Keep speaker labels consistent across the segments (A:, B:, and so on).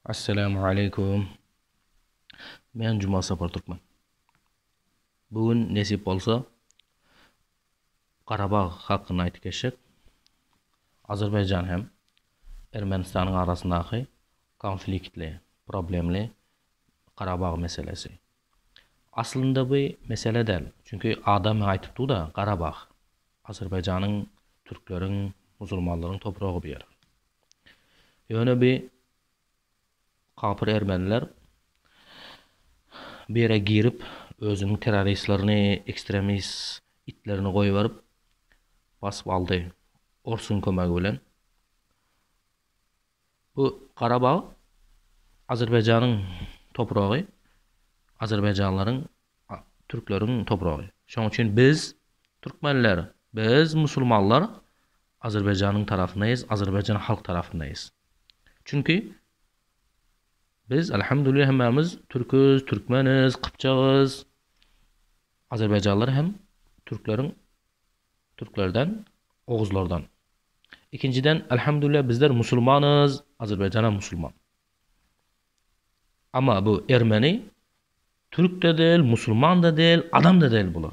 A: Assalamu aleykum. Men Jumal Sapar Türkmen. Bu gün nesip bolsa Garabag hakynda aýdyp geçjek. Azerbaýjan hem Ermenistanyň arasyndaky konfliktli, problemli Garabag meselesi. Aslynda bu mesele däl. Çünki adam maňa aýdypdy-da, Garabag, Azerbaýjanyň, türkleriň, musulmanlaryň topragy bu ýer. Ýöne bi kapyr ermeniler bu ýere girip özüniň terroristlerini ekstremist itlerini goýberip basyp aldy orsuň kömegi bilen. Bu Garabag Azerbaýjanyň topragy Azerbaýjanlaryň türkleriň topragy. Şoň üçin biz türkmenler biz musulmanlar Azerbaýjanyň tarapyndaýys Azerbaýjan halk tarapyndaýys çünki biz Alhamdulillah hemmämiz türküz türkmeniz kypjagys Azerbaýjanlylar hem türkleriň türklerden oguzlardan ikinjiden Alhamdulillah bizler musulmanyz Azerbaýjan hem musulman ama bu ermeni türkde däl musulmanda däl adamda däl bular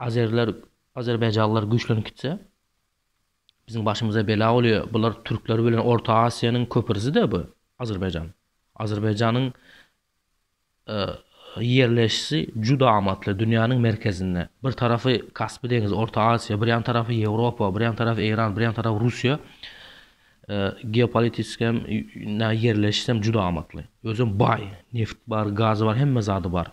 A: Azeriler Azerbaýjalylar güýçlenip gitse biziň başymyza bela bolýa bular türkler bilen orta asiýanyň köpirside bu Azerbaýjan Azerbaýjanyň ýerleşişi juda amatly dünýäniň merkezinde bir tarapy kaspi deňizi orta asiýa bir ýan tarapy ýewropa bir ýan tarapy eýran bir ýan tarapy russiýa geopolitiski hem ýerleşişi hem juda amatly özem baý neft bar gazy bar hemme zady bar.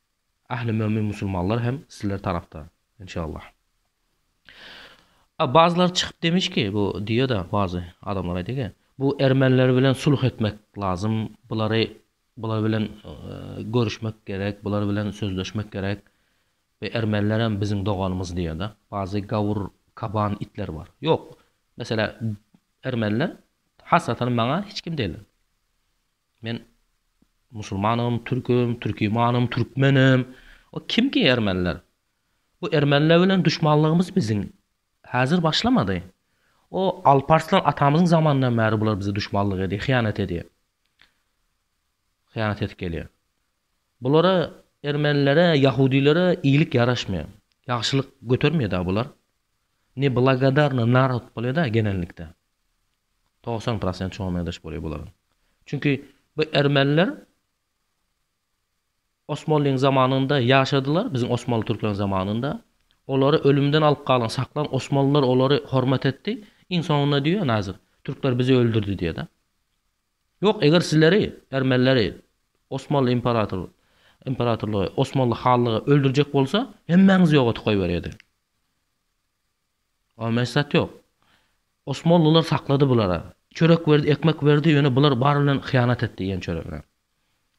A: Ähli mömin musulmanlar hem sizler tarafda inşallah. A bazylary çykyp demiş ki bu diýeda bazy adamlar aýdy ki bu ermenler bilen sulh etmek lazym bulary bular bilen görüşmek gerek bular bilen sözleşmek gerek we ermenler hem biziň doganymyz diýeda bazy gawur kaban itler bar ýok meselä ermenler hasratan maňa hiç kim degiller. Men musulmanam, türkem, türkimanam, türkmenim. O kim ki ermeniler? Bu ermeniler bilen duşmanlygymyz biziň häzir başlamady. O Alparslan atamyzyň zamanyndan bäri bular bize duşmanlyk edýär, hyýanat edýär. Hyýanat edip gelýär. Bulara ermenilere, ýahudilere iýlik ýaraşmaýar. Ýagşylyk götermeýär-de bular. Ne blagodarny narod bolýar-da genellikde. Togsan prosent şoňa meňzeş bolýar bularyň. Çünki bu ermeniler Osmanlyň zamanynda ýaşadylar, biziň Osmanly türkmen zamanynda. Olary ölümden alyp galan, saklan Osmanlylar olary hormat etdi. Iň soňunda diýýär Nazir, türkler bizi öldürdi diýýär-de. Ýok, eger sizleri, ermenileri Osmanly imperator, imperatorlygy, Osmanly hanlygy öldürjek bolsa, hemmäňizi ýok edip goýberýärdi. A mes zat ýok. Osmanlylar saklady bulara. Çörek berdi, ekmek berdi, ýöne bular bary bilen hyýanat etdi iýen çöregine.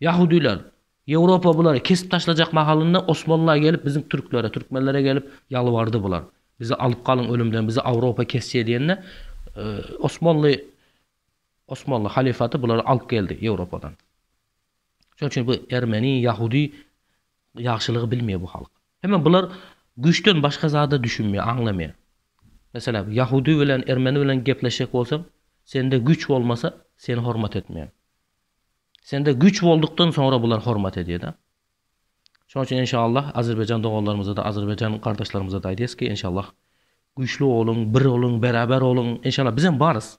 A: Ýahudylar, Ýewropa bulary kesip taşlajak mahalynda Osmanlylar gelip biziň türklere, türkmenlere gelip ýalbardy bular. Bizi alyp galyň ölümden, bizi Awropa kesje diýende, Osmanly Osmanly halyfaty bulary alyp geldi Ýewropadan. Şonuň üçin bu ermeni, ýahudy Ýagşylygy bilmeýär bu halk. Heme bular güýçden başga zada düşünmeýär, aňlamaýar. Meselem, ýahudy bilen, ermeni bilen gepleşjek bolsaň, sende güýç bolmasa, seni hormat etmeýär. Sende güýç boldukdan soňra bular hormat edýär-de. Şonuň üçin enşallah azerbaýjan doganlarymyza-da, azerbaýjan gardaşlarymyza-da aýdýarys ki, enşallah güýçli boluň, bir boluň, beraber boluň. Enşallah bizem barys.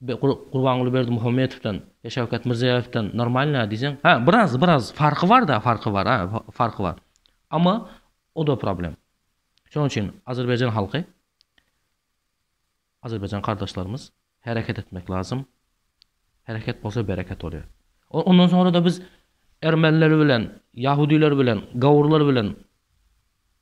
A: Gurbanguly Berdimuhamedowdan we Şawkat Mirziýowdan normalnä diýseň, hä biraz biraz farky barda farky bar a farky bar. Amma oda problem. Şonuň üçin Azerbaýjan halky Azerbaýjan gardaşlarymyz hereket etmek lazym. Hereket bolsa bereket bolýar. Ondan soňra da biz ermeniler bilen, ýahudiler bilen, gawurlar bilen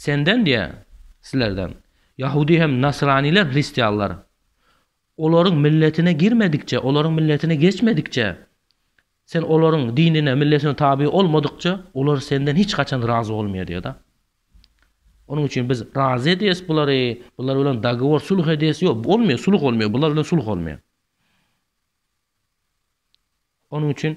A: Senden, diýýär, sizlerden, ýahudy hem nasranylar, hristianlar, olaryň milletine girmedikçe, olaryň milletine geçmedikçe, sen olaryň dinine, milletine taby olmadykça, olar senden hiç haçan razy bolmaýar, diýýär-de. Onuň üçin biz razy edýäs bulary, bular bilen dogowor, sulh edýäs, ýok, bolmaýar, sulh bolmaýar, bular bilen sulh bolmaýar. Onuň üçin.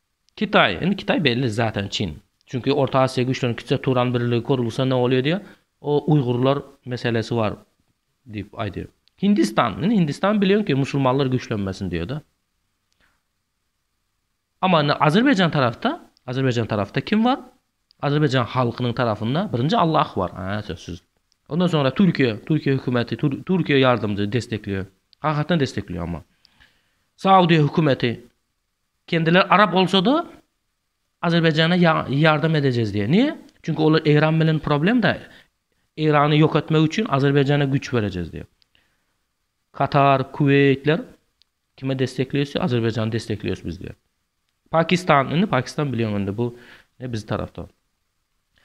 A: Kitaý, indi Kitaý belli zaten çyn. Çünki Orta Aziýa güýçlerini kitjek Turan birligi kurulsa ne bolýar diýýär. O uýgurlar meselesi bar diýip aýdýar. Hindistan, indi Hindistan bilýän ki musulmanlar güýçlenmesin diýýär-de. Amma indi Azerbaýjan tarapda, Azerbaýjan tarapda kim bar? Azerbaýjan halkynyň tarapynda birinji Allah bar, hä sözsüz. Ondan soňra Türkiýe, Türkiýe hökümeti, Türkiýe ýardymjy, destekleýär. Hakykatdan destekleýär amma. Saudiýa hökümeti, Kendileri arap olsada Azerbaýjana ýardam edejez diýýär. Niýe? Çünki olar Eýran bilen problemda. Eýrany ýok etmek üçin Azerbaýjana güýç berejez diýýär. Katar, Kuweýtler kime destekleýse Azerbaýjany destekleýäs biz diýýär. Pakistan, indi Pakistan bilýän indi bu ne biz tarafda.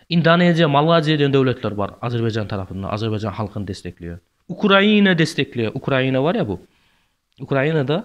A: Indoneziýa, Malaziýa diýen döwletler bar Azerbaýjan tarafynda, Azerbaýjan halkyny destekleýär. Ukraina destekleýär. Ukraina bar ýa bu. Ukrainada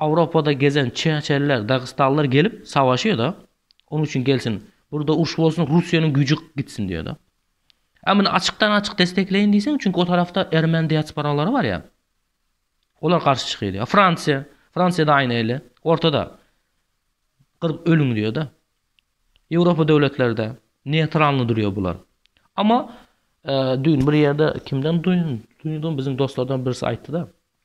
A: Awropada gezen çeçenler, dagystanlylar gelip savaşýada, onuň üçin gelsin, burda uruş bolsun, Russiýanyň güýji gitsin diýada. A muny açykdan açyk destekleýin diýseň, çünki o tarafda ermen diasporalary bar ýa. Olar garşy çykyýdy. A Fransiýa, Fransiýada aýna ele, ortada. Gyryp ölüň diýada. Ýewropa döwletlerde neýtralny durýa bular. Amma düýn bir ýerde kimden duýdum, biziň dostlardan birisi aýtdyda.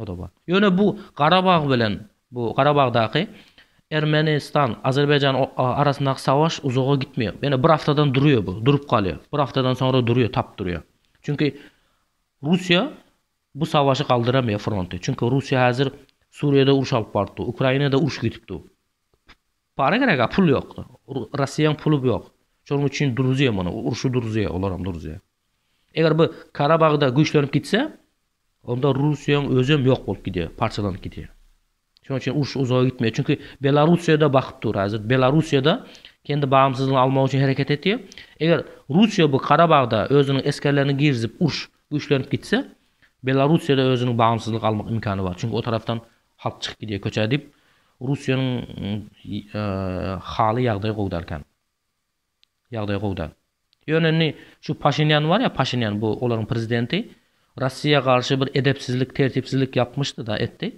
A: O-da bar. Ýöne bu Garabag bilen bu Garabagdaky Ermenistan, Azerbaýjan arasyndaky savaş uzaga gitmeýär. Ýöne bir haftadan durýar bu, durup galýar. Bir haftadan soňra durýar, tap durýar. Çünki Russiýa bu savaşy galdyramaýar fronty. Çünki Russiýa häzir Suriýada uruş alyp baryp dur. Ukrainada uruş gidip dur. Para gerek, a pul ýok. Russiýaň puly ýok. Şonuň üçin duruzýar muny. Urşy duruzýar, olar hem duruzýar. Eger bu Karabagda güýçlenip gitse, Onda Russiýaň özem ýok bolup gidýär, parçalanyp gidýär. Şonuň üçin uruş uzaga gitmeýär. Çünki Belarussiýada bakyp dur häzir. Belarussiýada kendi bagyňsyzlygyny almak üçin hereket etýär. Eger Russiýa bu Karabagda özüniň esgerlerini girizip uruş güýçlenip gitse, Belarussiýada özüniň bagyňsyzlyk almak imkany bar. Çünki o tarapdan halk çykyp gidýär köçä diýip, Russiýanyň haly ýagdaýy gowy dälkän. Ýagdaý gowy-da. Ýöne indi şu Paşinýan bar ýa, Paşinýan, bu olaryň prezidenti, Russiýa garşy bir edepsizlik, tertipsizlik ýapmyşdy-da, etdi.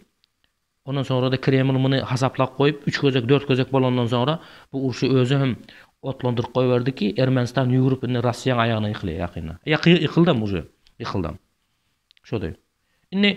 A: Ondan soňra-da Kreml muny hasaplap goýup, üç gezek, dört gezek bolandan soňra, bu urşy özi hem otlandyryp goýberdi ki, Ermenistan ýüwrüp indi Russiýaň aýagyna ýykylýar ýakynda. Ýakyldy-da, ýykyldam. Ýykyldam. Şody. Indi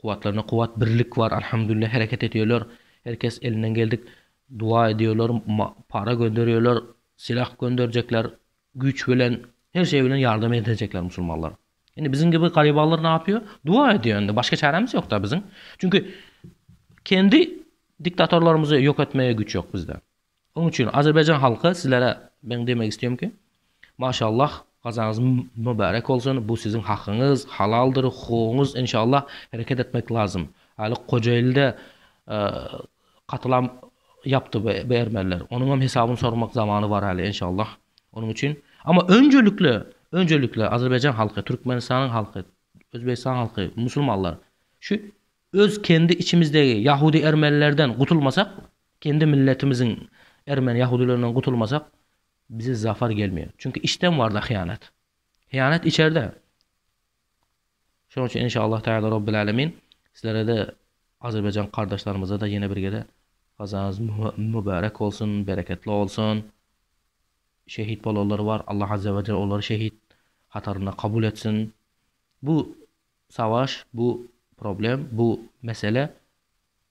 A: Kuwatlarynda kuwat birlik bar Alhamdulillah hereket edýärler her kes elinden geldik duwa edýärler para gönderýärler silah gönderjekler güýç bilen her şeý bilen ýardam edejekler musulmanlar indi biziň gibi garybanlar näýýär duwa edýär indi başga çärämiz ýokda biziň çünki kendi diktatorlarymyzy ýok etmeye güýç ýok bizde Onuň üçin Azerbaýjan halky sizlere men demek istiyorum ki Maşallah gazaňyz mübärek bolsun bu siziň hakyňyz halaldyr hukugyňyz enşallah hereket etmek lazym haly kojailde katylam yapdy bu ermeniler onuňam hesabyny soramak zamany bar haly enşallah onuň üçin ama önjelikle önjelikle Azerbaýjan halky Türkmenistanyň halky Özbegistan halky musulmanlar şu öz kendi içimizdegi yahudi ermenilerden gutulmasak Kendi milletimiziň ermeni ýahudilerinden gutulmasak bize zafar gelmeýär. Çünki içden barda hyýanat. Hyýanat içerde. Şonuň üçin inşallah taýala Rabbil Alemin sizlerede Azerbaýjan gardaşlarymyza da ýene bir gede gazanyz mübärek bolsun, bereketli bolsun. Şehit bolanlar bar. Allah Azze we Celle olary şehit hatarynda kabul etsin. Bu savaş, bu problem, bu mesele